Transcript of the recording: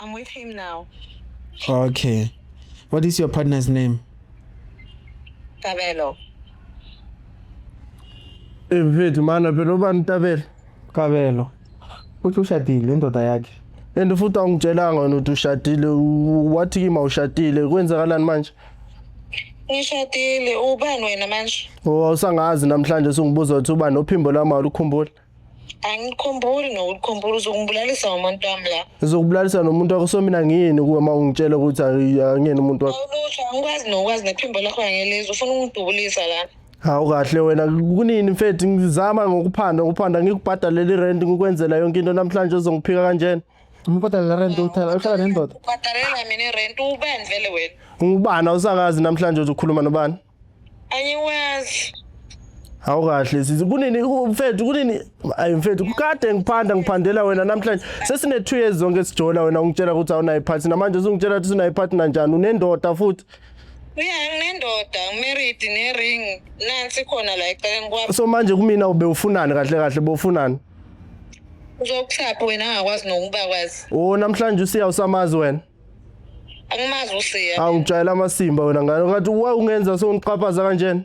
I'm with him now. Okay. What is your partner's name? Tabelo. Mfethu mana phela ubani Tabelo? Kabelo. Uthi ushadile indoda yakhe. And futhi awungitshelanga wena ukuthi ushadile u- wathi kimi awushadile kwenzakalani manje? Ngishadile ubani wena manje? Oh awusangazi namhlanje sungibuza ukuthi ubani ophimbo lami awulukhumbuli. angikhumbuli nokukhumbula uzokubulalisa ngomuntu wami la uzokubulalisa nomuntu wakho so mina ngiyini kuwe uma ungitshela ukuthi angiyeni umuntu wakho awulusho angikwazi nokwazi nephimbo lakho angelizwa ufuna ungidubulisa la hawu kahle wena kunini mfethu ngizama ngokuphanda ngokuphanda ngikubhadalele irent ngikwenzela yonke into namhlanje uzongiphika kanjena umbhadalela rent uthela uhlala nendoda ubhadalela mina irent ubani vele wena ungubani awusakazi namhlanje uzokhuluma nobani Angiwazi. Hawu kahle sisi kunini mfethu kunini ayi mfethu kade ngiphanda ngiphandela wena namhlanje sesine 2 years zonke sijola wena ungitshela ukuthi awunayi partner namanje usungitshela ukuthi unayi partner njani unendoda futhi Yeah nginendoda ngimarried ne ring nansi khona la eceleni kwami so manje kumina ube ufunani kahle kahle bofunani uzokuhlapha wena angakwazi nokuba kwazi Oh namhlanje usiya usamazi wena Angimazi uSiya. Angijayela amasimba wena ngane ngathi wa ungenza songiqhaphaza kanjena.